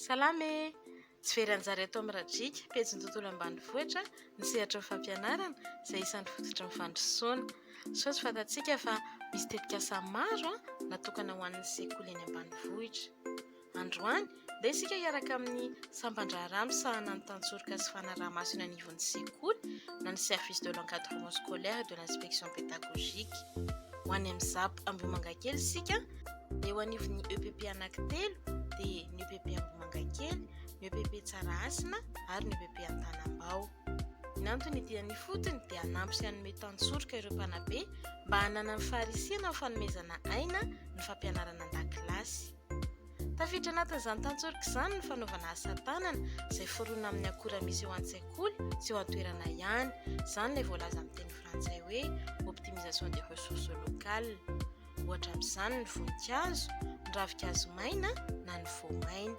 Salama e! Tsy very anjara eto amin'ny Radriaka, pejin'ny tontolo ambanivohitra, ny sehatry ny fampianarana, izay isan'ny fototry ny fandrosoana. Sao tsy fantatsika fa misy tetikasa maro natokana ho an'ny sekoly eny ambanivohitra. Androany, ndeha isika hiaraka amin'ny sampan-draharaha misahana ny tantsoroka sy fanaraha-maso eny anivon'ny sekoly na ny Service de l'encadrement scolaire et de l'inspection pédagogique. Ho any amin'ny ZAP Ambohimangakely isika. Eo anivon'ny EPP anankitelo dia ny EPP Ambohimangakely, ny EPP Tsarahasina ary ny EPP Antanambao. Ny antony dia ny fotony dia hanampy sy hanome tantsoroka ireo mpanabe mba hananany faharisihana amin'ny fanomezana aina ny fampianarana an-dakilasy. Tafiditra anatin'izany tantsoroka izany ny fanaovana asa tanana izay forona amin'ny akora misy eo an-tsekoly sy eo an-toerana ihany, izany ilay voalaza amin'ny teny frantsay hoe optimisation des ressources locales. ohatra amin'izany ny voninkazo, ny ravinkazo maina na ny voamaina.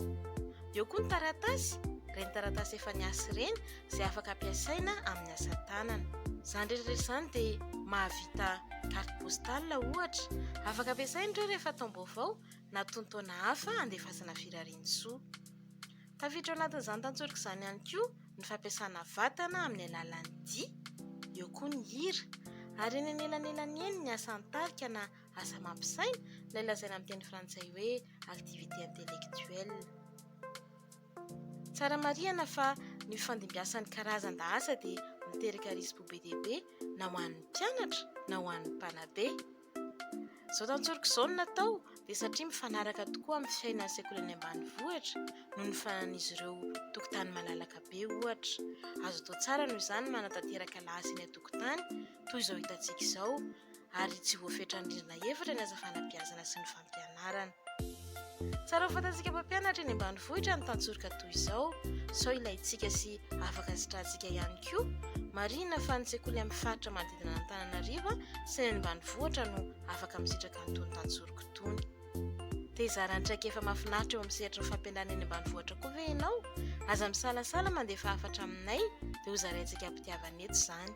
Eo koa ny taratasy, ireny taratasy efa niasa ireny izay afaka ampiasaina amin'ny asa tanana. Izany rehetra izany dia mahavita carte postale ohatra, afaka ampiasaina ireo rehefa taom-baovao na tonontaona hafa handefasana firariantsoa. Tafiditra ao anatin'izany tantsoroka izany ihany koa ny fampiasana vatana amin'ny alalan'ny dihy, eo koa ny hira, ary eny anelanelany eny ny asa an-tarika na asa mampisaina, ilay lazaina amin'ny teny frantsay hoe activité intellectuelle. Tsara marihana fa ny fifandimbiasan'ny karazan-daasa dia miteraka risi-po be dia be na ho an'ny mpianatra na ho an'ny mpanabe. Izao tantsoroko izao no natao dia satria mifanaraka tokoa amin'ny fiainan'ny sekoly any ambanivohitra noho ny fananan'izy ireo tokotany malalaka be ohatra. Azo atao tsara noho izany ny manatanteraka lahasa eny an-tokotany toy izao hitantsika izao ary tsy voafetran'ny rindrina efatra ny asa fanabeazana sy ny fampianarana. fampianarana. Tsara ho fantatsika mpampianatra eny ambanivohitra ny tantsoroka toy izao, sao ilaintsika sy afaka sitrantsika ihany koa. Marihina fa ny sekoly amin'ny faritra manodidina an'Antananarivo sy ny any ambanivohitra no afaka misitraka an'itony tantsoroka itony. Te hizara ny traikefa mahafinaritra eo amin'ny sehatry ny fampianarana eny ambanivohitra koa ve ianao? Aza misalasala mandefa hafatra aminay dia hozaraintsika am-pitiavana eto izany.